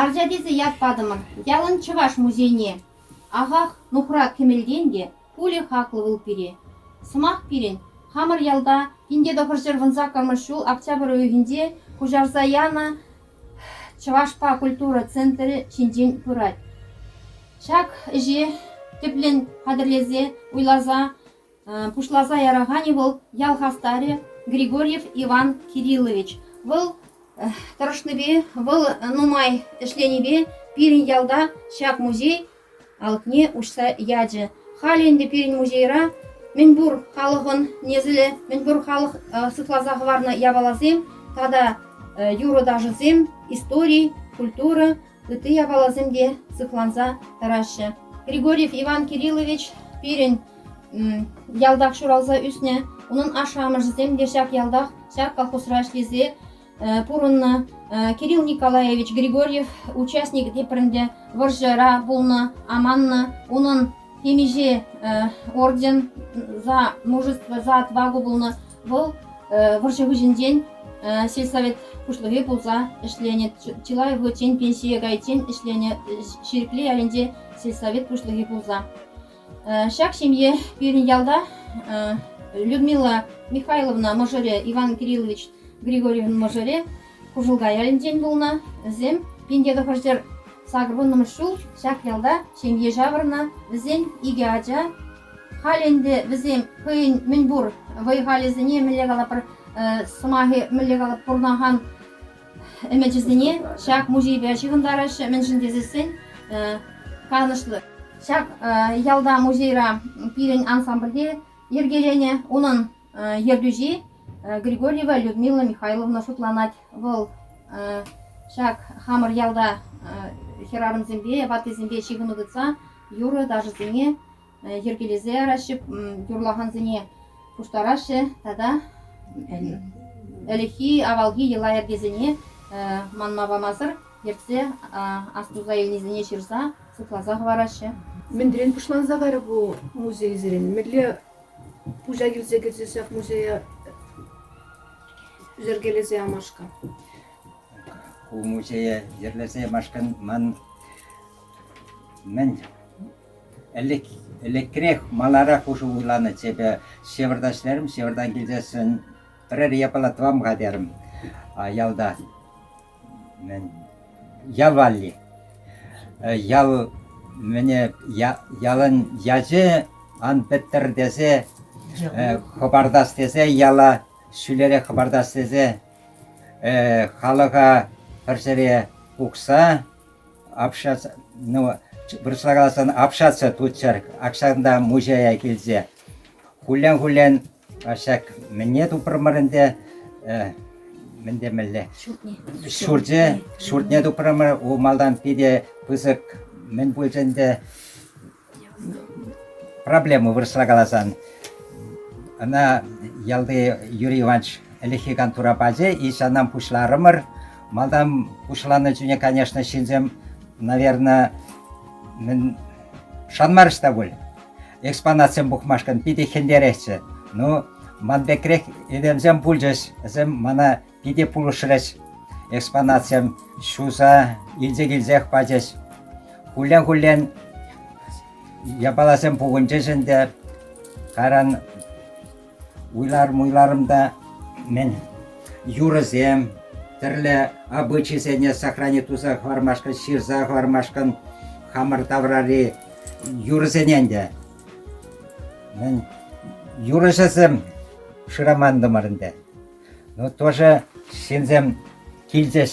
Арча тесе ят патӑмӑр. Ялӑн чӑваш музейне. Ахах, нухрат кӗмӗлтен те пулӗ хаклӑ вӑл пире. Сӑмах пирӗн, хамӑр ялта инке тӑхӑрҫӗр вун саккӑрмӗш ҫул октябрь уйӑхӗнче куҫарса янӑ чӑвашпа культура центрӗ ҫинчен пырать. Ҫак ӗҫе тӗплӗн хатӗрлесе, уйласа пуҫласа яраканӗ вӑл ял хастарӗ Григорьев Иван Кириллович. Вӑл тӑрӑшнипе, вӑл нумай ӗҫленипе пирӗн ялта ҫак музей алӑкне уҫса ячӗ. Халӗ ӗнтӗ пирӗн музейра мӗнпур халӑхӑн несӗлӗ, мӗнпур халӑх сыхласа хӑварнӑ япаласем тата юрӑ-ташӑсем, истори, культура ытти япаласем те сыхланса тӑраҫҫӗ. Григорьев Иван Кириллович пирӗн ялтах ҫуралса ӳснӗ. Унӑн ашшӗ-амӑшӗсем те ҫак ялтах, ҫак колхозра ӗҫлесе пурӑннӑ. Кирилл Николаевич Григорьев участник тепринче вӑрҫӑра пулнӑ, аманнӑ. Унӑн темиҫе орден за мужество, за отвагу пулнӑ. Вӑл вӑрҫӑ вӗҫӗнчен сельсовет пуҫлӑхӗ пулса ӗҫленӗ. Чылай вӑхӑтчен пенсие кайиччен ӗҫленӗ Ҫирӗкле ялӗнче сельсовет пуҫлӑхӗ пулса. Ҫак ҫемье пирӗн ялта Людмила Михайловна мӑшӑрӗ Иван Кириллович Григорьевӑн мӑшӑрӗ Кушылка ялӗнчен пулнӑ. Вӗсем пин тӑхӑрҫӗр сакӑр вуннӑмӗш ҫул ҫак ялта ҫемье ҫавӑрнӑ. Вӗсен икӗ ача, Халь ӗнтӗ вӗсем хӑйӗн мӗнпур вӑй-халӗсене мӗнле калатпӑр сӑмахӗ мӗнле калат пурӑнакан ӗмӗчӗсене ҫак музейпе ҫыхӑнтараҫҫӗ, мӗншӗн тесессӗн канӑҫлӑ. Ҫак ялта музейра пирӗн ансамбльте йӗркеленӗ унӑн ертӳҫи Григорьева Людмила Михайловна шутланать. Вӑл ҫак хамӑр ялта хӗрарӑмсемпе, ваттисемпе ҫыхӑну тытса юрӑ-ташӑсене йӗркелесе яраҫҫӗ, юрлакансене пуҫтараҫҫӗ тата ӗлӗкхи, авалхи йӑла-йӗркесене манма памасӑр ертсе астуса илнисене ҫырса, шутласа хӑвараҫҫӗ. Мӗнрен пуҫланса кайрӗ ку музейсен? Мӗнле Пуҫа килсе кӗрсе ҫак музея йӗркелесе ямашка. Ку музее йӗрлесе ямашкӑн ман мӗн ӗлӗк ӗлӗкрех маларах ушу вуйланӑччӗ ҫывӑртас терӗм, ҫывӑртан килсессӗн пӗрер япала тӑвам-ха терӗм ялта. Ял валли. Ял мӗне ялӑн ячӗ ан пӗттӗр тесе хӑпартас тесе яла ҫӳлерех хӑпартас тесе халӑха пӗр ҫӗре пухса вырӑсла каласан общаться туччӑр. Ак ҫакӑнта мучая килсе хуллен-хуллен Ҫак мӗне тупрӑмӑр ӗнтӗ? Мӗн темелле? Ҫуртне. Ҫурче ҫуртне тупрӑмӑр. У малтан питӗ пысӑк мӗн пулчӗ ӗнтӗ? Проблема вырӑсла каласан. Ӑна ялти Юрий Иванович ӗлӗкхи кантура пачӗ. Ичанан пуҫларӑмӑр. Малтан пуҫланӑ чухне, конечно, ҫынсем, наверное, мӗн шанмарӗҫ те пуль. экспонатсем пухмашкӑн питӗ хӗнтеретчӗ. Ну, ман пекрех этемсем пулчӗҫ, вӗсем мана питӗ пулӑшрӗҫ. Экспонатсем ҫуса илсе килсех пачӗҫ. Хуллен-хуллен япаласем пухӑнчӗҫ ӗнтӗ. Каран Вуйлар-муйларӑм та мӗн, юрӑсем, тӗрлӗ обычайсене сохрани туса хӑвармашкӑн, ҫырса хӑвармашкӑн хамӑр таврари юрӑсене ӗнтӗ. Мӗн, юрӑҫӑсем шырамантӑмӑр ӗнтӗ. Ну, тоже ҫынсем килчӗҫ.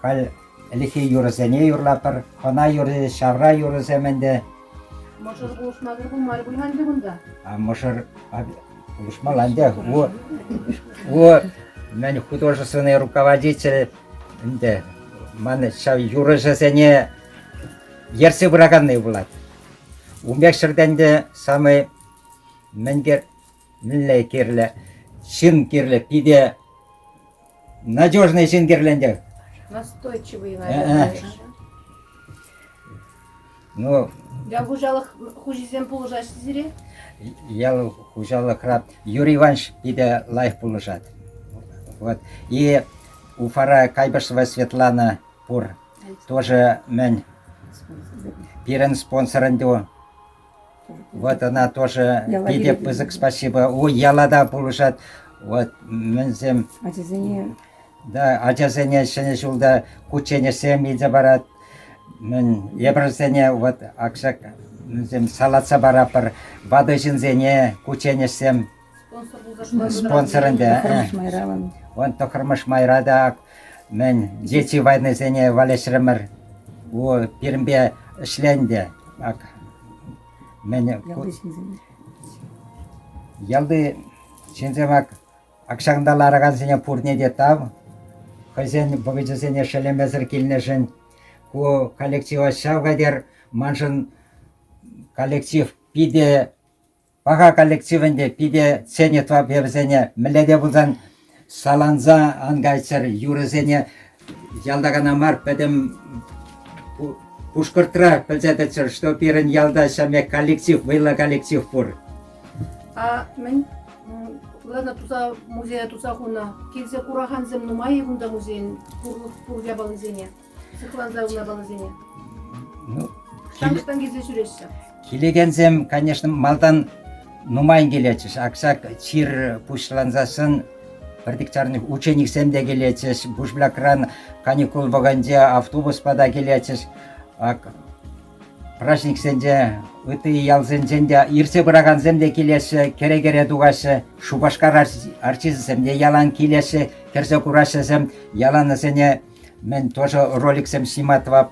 Халь Ӗлӗкхи юрӑсене юрлатпӑр. Хӑна юрри, ҫавра юрӑсем ӗнтӗ. Мӑшӑр пулӑшма кӗр пулмарӗ пуль ӗнтӗ кунта? А мӑшӑр пулӑшмалла ӗнтӗ. У, у мӗн художественный руководитель ӗнтӗ. Ман ҫав юрӑҫӑсене ертсе пыраканни пулать. Ун пек ҫӗрте ӗнтӗ самый мӗн пек Мӗнле кирлӗ? Ҫын кирлӗ питӗ надежный ҫын кирлӗ ӗнтӗ. Настойчивый, наверное. Ну, Ял хуҫалӑх хуҫисем пулӑшаҫҫӗ сире? ял хуҫалӑхра Юрий Иванович питӗ лайӑх пулӑшать. Вот. И Уфара Кайбышева Светлана пур. Тоже мӗн пирӗн спонсор ӗнтӗ. Вот она тоже питӗ пысӑк спасибо. Ой, ялада пулӑшать. Вот мӗнсем. Ачасене. Да, ачасене ҫӗнӗ ҫулта кучченеҫсем илсе парать. Мӗн эпӗрсене вот акша мӗнсем салатса параппӑр. Ватӑ ҫынсене кучченеҫсем Спонсорӑн та, вӑн тӑхӑрмӗш майра та мӗн дети войнӑсене валеҫрӗмӗр. Пирӗнпе ӗҫленӗ мӗн ялти ҫынсем ак-ҫакӑнта ларакансене пурне те тав. Хӑйсен вӑхӑчӗсене шеллемесӗр килнӗшӗн ку коллектива ҫав хатӗр. Маншӑн коллектив питӗ Паха коллективӗнте пике Сенитва певӗсене мӗнле те пулсан саланса ан кайччӑр юрӑсене ялта кана мар пӗтӗм Пушкӑртра пӗлсе тӑччӑр, что пирӗн ялта ҫамек коллектив, вӑйлӑ коллектив пур. А мӗн Лена туса музее туса хунӑ. Килсе куракансем нумай-и кунта музейӗн пур япалисене? Сыхланса япаласене. Ну, Самӑштан килсе ҫӳреҫҫӗ. Килекенсем, конечно, малтан нумайн килетчӗҫ. Аксак чир пуҫлансассӑн пӗртик чарник учениксем те килетчӗҫ. Бушблякран каникул вӑхӑнче автобуспа та килетчӗҫ. Праҫниксенче ытти ялсенчен те иртсе пыракансем те килеҫҫӗ, кӗре-кӗре тухаҫҫӗ. Шупашкар арчисем те ялан килеҫҫӗ, кӗрсе кураҫҫӗсем. Яланӑсене Мӗн тоже роликсем сima тӑвап,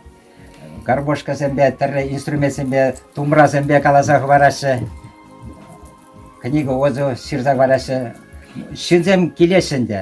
гармошкӑсемпе, тӗрлӗ инструментсемпе, тумрасемпе каласа хӑвараҫҫӗ. Книга отзыв ҫырса хӑвараҫҫӗ. Ҫынсем килеҫҫӗ ӗнтӗ.